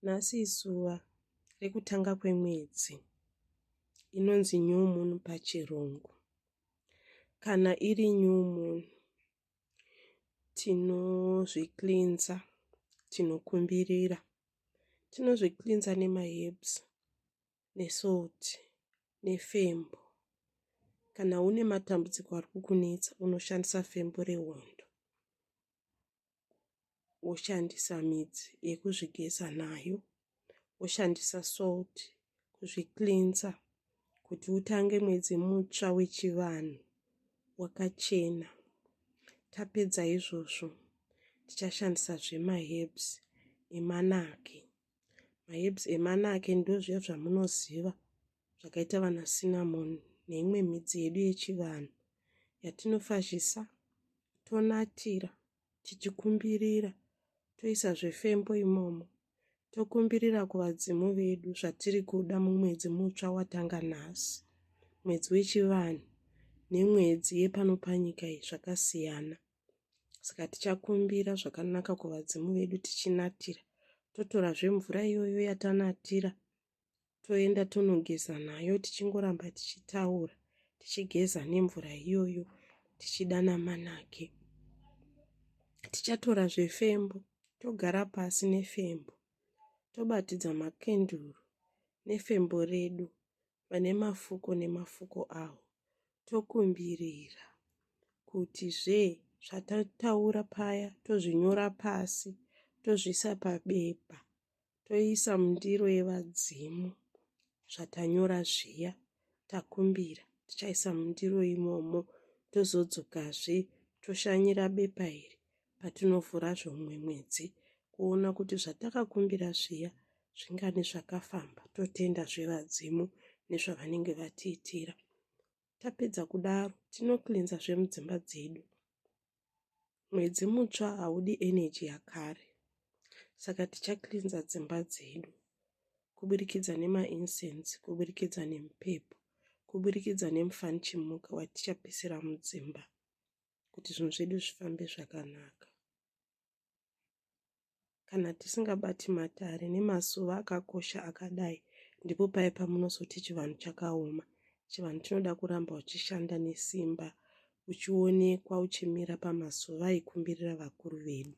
Nhasi izuva rekutanga kwemwedzi inonzi new moon pachirungu. Kana iri new moon tinozvicleansa tinokumbirira. Tinozvicleansa nemaherbs nesalt nefembo. Kana une matambudziko ari kukunetsa unoshandisa fembo rehondo. woshandisa midzi yekuzvigeza nayo woshandisa salt kuzviklinza kuti utange mwedzi mutsva wechivanhu wakachena tapedza izvozvo tichashandisa zvemaherbs emanaki maherbs emanake ndozviya zvamunoziva zvakaita vana cinnamon neimwe midzi yedu yechivanhu yatinofashisa tonatira tichikumbirira toisa zvefembo imomo tokumbirira kuvadzimu vedu zvatiri kuda mumwedzi mutsva watanga nhasi mwedzi wechivanhu nemwedzi yepanopanyika iyi zvakasiyana saka tichakumbira zvakanaka kuvadzimu vedu tichinatira totorazve mvura iyoyo yatanatira toenda tonogeza nayo tichingoramba tichitaura tichigeza nemvura iyoyo tichidana manake tichatora zvefembo togara pasi nefembo tobatidza makenduru nefembo redu vane mafuko nemafuko awo tokumbirira kuti zve zvatataura paya tozvinyora pasi tozviisa pabepa toisa mundiro yevadzimu zvatanyora zviya takumbira tichaisa mundiro imomo tozodzokazve toshanyira bepa iri patinovhura zvomumwe mwedzi kuona kuti zvatakakumbira zviya zvingani zvakafamba totenda zvevadzimu nezvavanenge vatiitira tapedza kudaro tinoklinza zvemudzimba dzedu mwedzi mutsva haudi eneji yakare saka tichaklinza dzimba dzedu kuburikidza nemaincense kuburikidza nemupepo kuburikidza nemufanichimuka watichapisira mudzimba kuti zvinhu zvedu zvifambe zvakanaka kana tisingabati matare nemasuva akakosha akadai ndipo paye pamunozoti chivanhu chakaoma chivanhu chinoda kuramba uchishanda nesimba uchionekwa uchimira pamasuva aikumbirira vakuru vedu